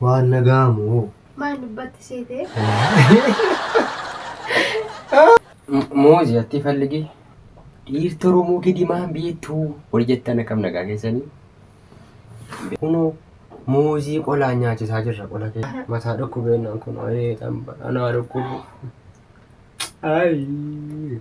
Waan nagaamu hoo. Maal dubbatti seetee? Moozi atti falligi dhiirti Oromoo kidimaan beektuu wal jettan akkam nagaa keessanii. Kunoo moozii qolaan nyaachisaa jirra qola kee mataa dhukkubeenyaan kun ayee xamba anaa dhukkubu. Ayii.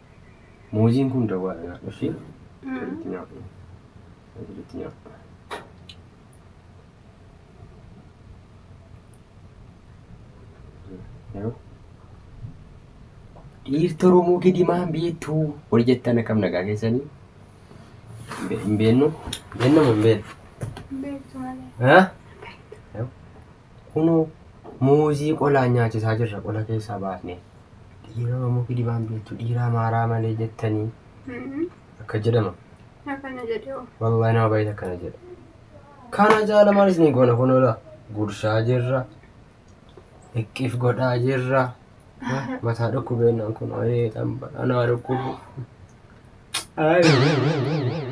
Muuziin kun dawwaadha nyaadhu ishee. Walitti nyaadhu. Walitti nyaadhu. Yeroo dhiirti Oromoo gidimaan beektu wal jettan akkam nagaa keessanii? Hin beennu? Beennamu hin beennu? Beektu malee. Kunoo muuzii qolaan nyaachisaa jirra qola keessaa baafne. Dhiira Oromoo kijibaan beektu dhiira Amaaraa malee jettanii akka jedhama. Akkana jedhe oo. Wallahi nama baay'eetu akkana jedha. Kana jaala maal isin goona kun ola gurshaa jirra. Iqqif godhaa jirra. Mataa dhukkubeennaan kun ayee xamba anaa dhukkubu. Ayee.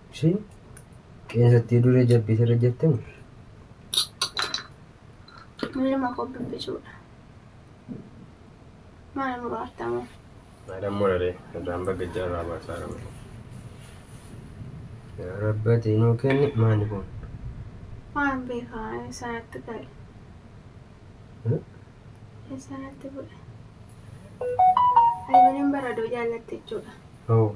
Isheen qeensa itti duree jabbii sirra jirti moo? Ilma koo bibbicuudha. Maal nu raartamu? Maadhaan moraree irraan baga jaarraa baasaa rabe. Yaa rabbati nuu kenni maani kun. Waan beekaa eessaanatti gale. Hmm? Eessaanatti bu'e. Ayyuuniin baradoo jaallatti jechuudha. Hoo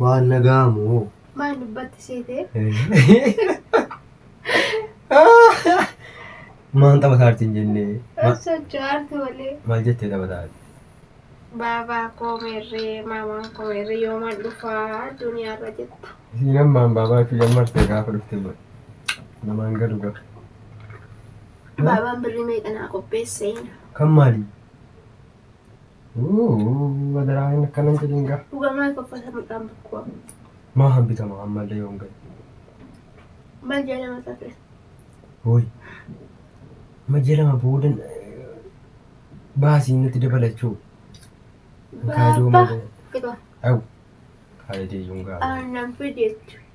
Waan nagaa moo? Maal dubbatti seetee? Maan taphataa jirti hin jennee? Ma- Osoo jaartu malee. Maal jettee taphataa jirti? Baabaa koo meerree, maamaan koo meerree yooman dhufaa duniyaarra jetta. Isiin ammaan baabaa fi jammartee gaafa dhufte booda. Namaan galu gafa. Abaabaan birrii meeqa naa qopheesse. Kan maali? Adaraa hin akkanan jedhin gaa. Dhugaa maal faffata mudhaan bakkuu amma. Maa hambitama ammallee yoon ga'e. Mal jedhama safee. Hooy. Amma ji'a lama booda eh, baasii natti dabalachuu. Kaayidoo Baabba. malee. Fixaa. Au. Kaayidee yoon gaala. Aannan fideetti.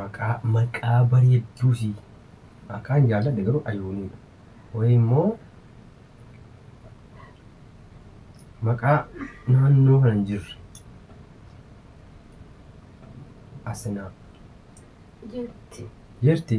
Maqaa maqaa bareedduu sii. Maqaan jaalladhe garuu Ayuunii dha. Wayii immoo maqaa naannoo kana hin jirre. Asinaa. Jirti. Jirti.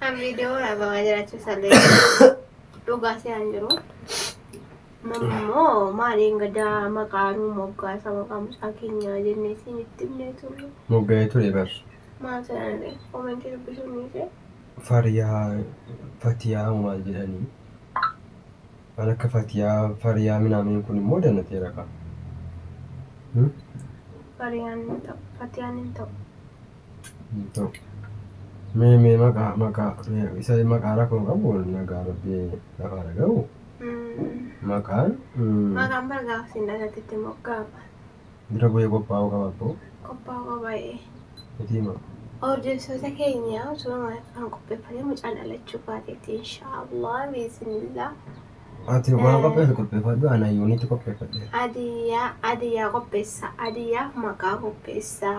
Kan viidiyoo waraabamaa jiraachuu isaa beeku. Dhugaa se'an jiru. Mammoo maaliin gadaa maqaanuu moggaasa maqaa mucaa keenyaa jennee siin itti himnee turre. Moggaa'ee ture bar. Maal jedhanillee komentii dubbisuun ni ishee. Fariyaa fatiyaa moo maal jedhanii. Waan akka fatiyaa fariyaa minaameen kun immoo danateera qaba. Fariyaan hin ta'u. Fatiyaan hin ta'u. Toki. Mee mee maqaa maqaa mee isa maqaa rakkoon qabu nagaa rabbi lafa haa dhagahu. Maqaan mm, Maqaan bara gaafa siin dhalate itti moggaafama. dura bu'ee qophaa'uu qaba abboo. Qophaa'uu qabaa'ee. Itii maa. Hordoftoota keenya osoo kan qopheeffannee mucaan dhalachuu baateetti inshaallah biisinillah. Ati waan Eh. qopheessu qopheeffadhu ana yuunitti qopheeffadhe. Adiyyaa adiyyaa qopheessa adiyyaaf maqaa qopheessa.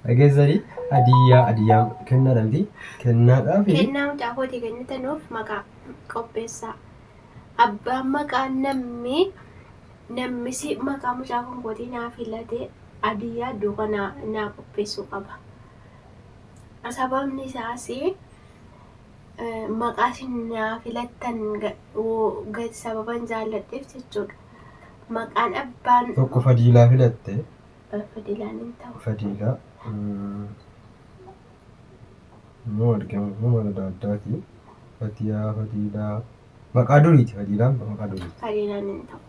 Dhageessanii adiyyaa adiyyaa kennaadha miti kennaadhaa fi Kennaa mucaa kootii kennitanuuf maqaa qopheessaa. Abbaan maqaa namni nammisi maqaa mucaa kun kootii naa filate adiyyaa duuka naa, naa qopheessuu qaba. Sababni isaas eh, maqaa isin naa filattan ga- wo- ga- sababan jaalladheef jechuudha. Maqaan abbaan tokko fadiilaa filatte Fadiilaan hin ta'u. fadiila immoo argamu immoo mala adda addaati. Fatiyaa, fadiilaa, maqaa duriiti fadiilaan maqaa duriiti. Fadiilaan hin ta'u.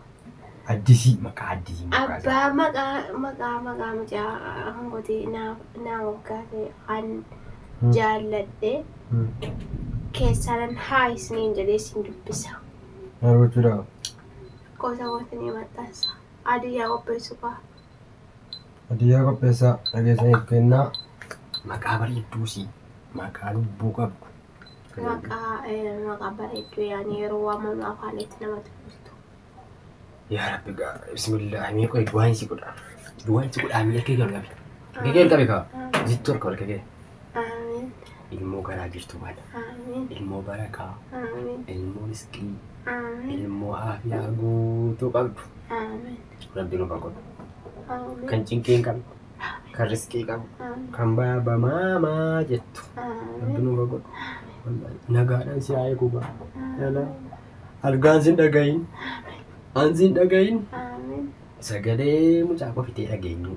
Addisii maqaa addisii moggaasa. Abbaa maqaa maqaa maqaa mucaa hangoti naa naa moggaase kan Hmm. jaalladhe Hmm. keessaanan haa isiniin jedhee isin dubbisa. Maal gochuudhaaf? Lakkoofsa kootiin maxxansa. Baadiyyaa qopheessu kaa. Baadiyyaa qopheessaa dhageessaniif kennaa. Maqaa bareedduu si maqaa lubbuu qabdu. Maqaa maqaa bareedduu yaani yeroo waamamu afaanitti namatti buustu. Yaa rabbi gaa bismillah mee qoy duwaan si godha. Duwaan si godha mee kee jalqabe. Kee jalqabe kaa. Zittu harka ol kee. Aamiin. Ilmoo garaa jirtu kana. Aamiin. Ilmoo barakaa. Aamiin. Ilmoo risqii. Aamiin. Ilmoo aafiyaa guutuu qabdu. Aamiin. Rabbi nuuf haa godhu. Aamiin. Kan cinqii hin qabne. Kan risqii qabu. Aamiin. Kan baaba maamaa jettu. Rabbi Aamiin. nuuf haa godhu. Wallaahi, Nagaadhaan si haa eegu gaa. Yala. Algaan sin dhagahin. An sin dhagahin. Aamiin. Sagalee mucaa kofitee dhageenyu.